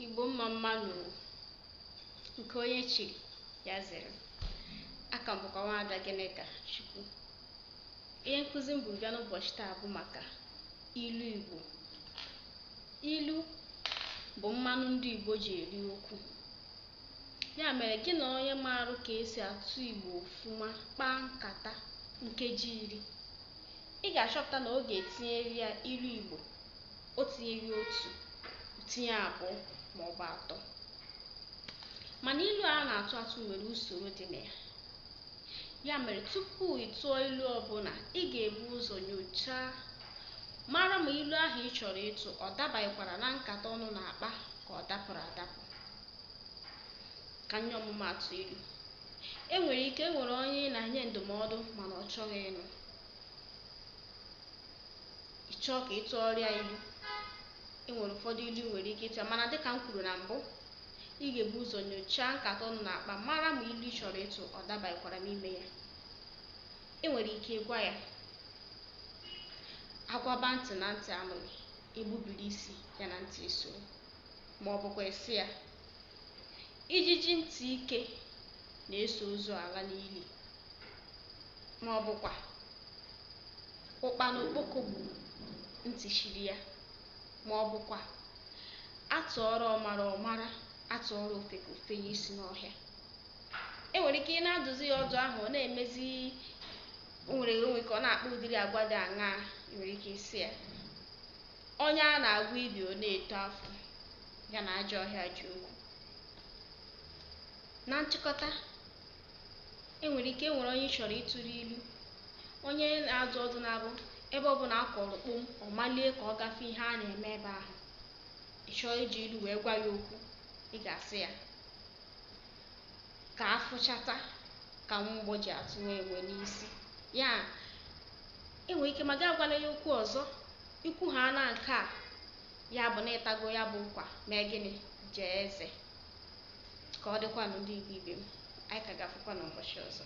Igbo mma mma nụ nke onye chiri ya zere aha m bụkwa nwaada Gịnịka Chukwu ihe nkụzi m bu bịa n'ụbọchị taa bụ maka ilu Igbo ilu bụ mmanụ ndị Igbo ji eri okwu ya mere gị na onye maara ka esi asụ Igbo ọfụma kpaa nkata nkeji iri ị ga-achọpụta na ọ ga-etinyere ya ilu Igbo o tinyeghị otu tinye abụọ ma ọ bụ atọ mana ilu a na-atụ atụ nwere usoro dị na ya ya mere tupu ị tụọ ilu ọbụla ị ga-ebu ụzọ nyochaa mara ma ilu ahụ ị chọrọ ịtụ ọ dabanyekwara na nkata unu na-akpa ka ọ dapụrụ adapụ ka m nye ọmụmaatụ ilu e nwere ike e nwere onye ị na-enye ndụmọdụ mana ọ chọghị ịnụ ị chọọ ka ị tụọrọ ya ilu e nwere ụfọdụ ilu ị nwere ike ịtụ ya mana dịka m kwuru na mbụ ị ga-ebu ụzọ nyochaa nkata unu na-akpa mara ma ilu ị chọrọ ịtụ ọ dabanyekwara n'ime ya e nwere ike ịgwa ya agwaba ntị na ntị anụghị egbubiri isi ya na ntị esoro ma ọ bụkwa ị sị ya ijiji ntị ike na-eso ozu ala n'ili ma ọ bụkwa ụkpana okpoko gburu ntị chiri ya ma ọ bụkwa atụọrọ ọmara ọ mara atụọrọ ofeke o fenye isi n'ọhịa e nwere ike ị na-adụzi ya ọdụ ahụ ọ na-emezi o nwere onwe ka ọ na-akpa ụdịrị agwa dị aṅa ị nwere ike ịsị ya onye a na-agwọ ibi ọ na-eto afọ ya na ajọ ọhịa ji okwu na nchịkọta E nwere ike e nwere onye ị chọrọ ịtụrụ ilu, onye na-adụ ọdụ na-abụ ebe ọbụla a kụrụ kpom, ọ malie ka ọ gaa fụ ihe a na-eme ebe ahụ. Ị chọọ iji ilu wee gwa ya okwu, ị ga-asị ya ka afụchata ka mgbọ ji atụ nwa enwe n'isi. Ya e nwere ike ma gị agwala ya okwu ọzọ, ikwu ha na nke a, ya bụ na ịtago ya bụ ụkwa mee gịnị? Jaa eze. ka ọ dịkwanụ ndị Igbo ibe m anyị ka ga-afụkwa n'ụbọchị ọzọ